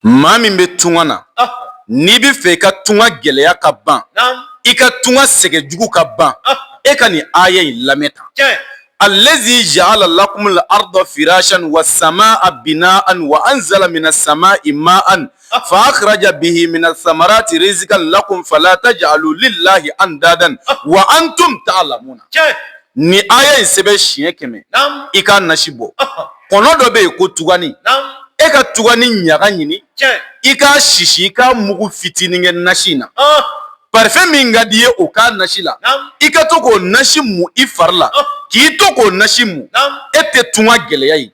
maa min bɛ tunga na n'i bɛ fɛ i ka tunga gɛlɛya ka ban i ka tunga sɛgɛn jugu ka ban e ka nin aya in lamɛn ta alazi ja'ala lakumul arda firashan wa samaa binaan wa anzala mina samaa'i maan fa akhraja bihi mina samarati rizkan lakum fala taj'alu lillahi andadan wa antum ta'lamuna Nin aya in sɛbɛn siɲɛ kɛmɛ i k'a nasi bɔ kɔnɔ dɔ bɛ yen ko tugani e ka tugani ɲaga ɲini i k'a sisi i k'a mugu fitinin kɛ nasi in na parfɛn min ka di i ye o k'a nasi la i ka to k'o nasi mun i fari la k'i to k'o nasi mun e tɛ tunga gɛlɛya ye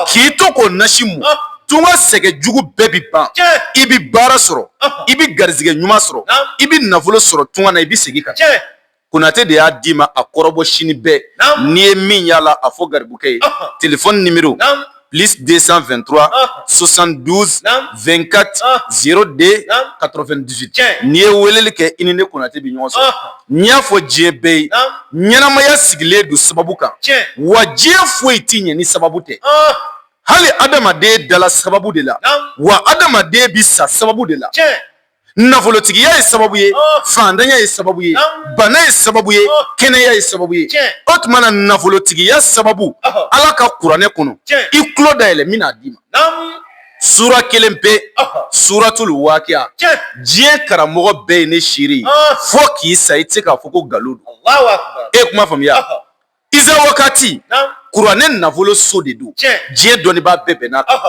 k'i to k'o nasi mun tunga sɛgɛn jugu bɛɛ bɛ ban i bɛ baara sɔrɔ i bɛ garijɛgɛ ɲuman sɔrɔ i bɛ nafolo sɔrɔ tunga na i bɛ segin ka konatɛ de y'a d'i ma a kɔrɔbɔ sini bɛɛ n'i ye min y'a la a fɔ garibukɛ ye telefɔni nimero plus 223 72 24 02 98 n'i ye weleli kɛ i ni ne konatɛ bɛ ɲɔgɔn sɔrɔ n y'a fɔ diɲɛ bɛɛ ye ɲɛnamaya sigilen don sababu kan wa diɲɛ foyi tɛ ɲɛ ni sababu tɛ hali adamaden dala sababu de la wa adamaden bɛ sa sababu de la nafolotigiya ye sababu ye fandanya ye sababu ye bana ye sababu ye kɛnɛya ye sababu ye o tuma na nafolotigiya sababu ala ka kuranɛ kɔnɔ i tulo dayɛlɛ n bɛn'a d'i ma sura kelen pe suratul wakiya diɲɛ karamɔgɔ bɛɛ ye ne seere ye fo k'i sa i tɛ se k'a fɔ ko nkalon don e kuma faamuya Iza wakati kuranɛ nafolo so de don diɲɛ dɔnnibaa bɛɛ bɛnn'a kan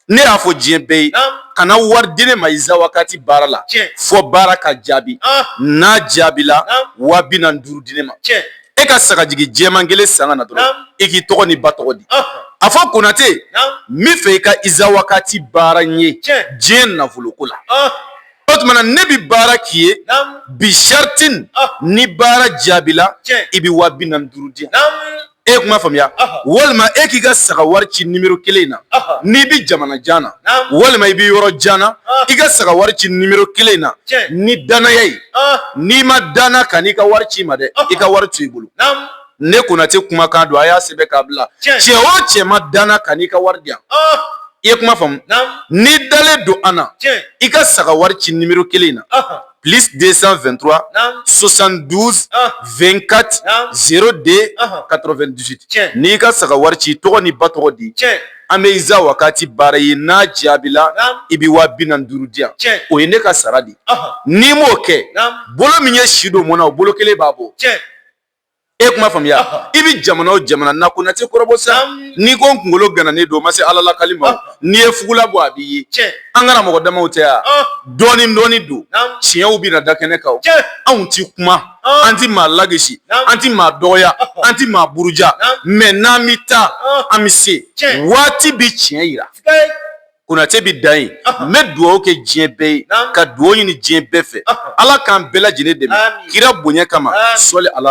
ne y'a fɔ diɲɛ bɛɛ ye kana wari di ne ma iza wakati baara la fo baara ka jaabi n'a jaabi la wa bi naani duuru di ne ma e ka sagajigi jɛman kelen san ka na dɔrɔn e k'i tɔgɔ ni ba tɔgɔ di a fɔ konatɛ n b'a fɛ i ka iza wakati baara n ye diɲɛ nafolo ko la o tuma na ne bɛ baara k'i ye bi shartin ni baara jaabila i bɛ wa bi naani duuru di yan e kuma faamuya walima e k'i ka saga wari ci nimero kelen in na n'i bɛ jamana jan na walima i bɛ yɔrɔ jan na i ka saga wari ci nimero kelen in na ni dannaya ye n'i ma danna kan'i ka wari ci n ma dɛ i ka wari to i bolo ne konatɛ kumakan don a y'a sɛbɛn k'a bila cɛ o cɛ ma danna kan'i ka wari di yan i ye kuma faamu n'i dalen don an na i ka saga wari ci nimero kelen in na plus 223 72 24 02 98 n'i ka saga wari ci tɔgɔ ni ba tɔgɔ di an bɛ iza wakati baara i ye n'a jaabila i bɛ wa bi naani duuru di yan o ye ne ka sarati n'i m'o kɛ bolo min ye si don mɔnna o bolo kelen b'a bɔ e kuma faamuya i bɛ jamana o jamana na Konatɛ kɔrɔbɔ sa n'i ko n kunkolo gananen don ma se ala lakali ma n'i ye fugula bɔ a bɛ ye an kana mɔgɔ damaw tɛ yan dɔɔnin dɔɔnin don tiɲɛw bɛ na da kɛnɛ kan anw tɛ kuma an tɛ maa lagosi an tɛ maa dɔgɔya an tɛ maa buruja mɛ n'an bɛ taa an bɛ se waati bɛ tiɲɛ jira Konatɛ bɛ dan yen n bɛ dugawu kɛ diɲɛ bɛɛ ye ka dugawu ɲini diɲɛ bɛɛ fɛ ala k'an bɛɛ lajɛlen dɛmɛ kira bonya kama sɔli ala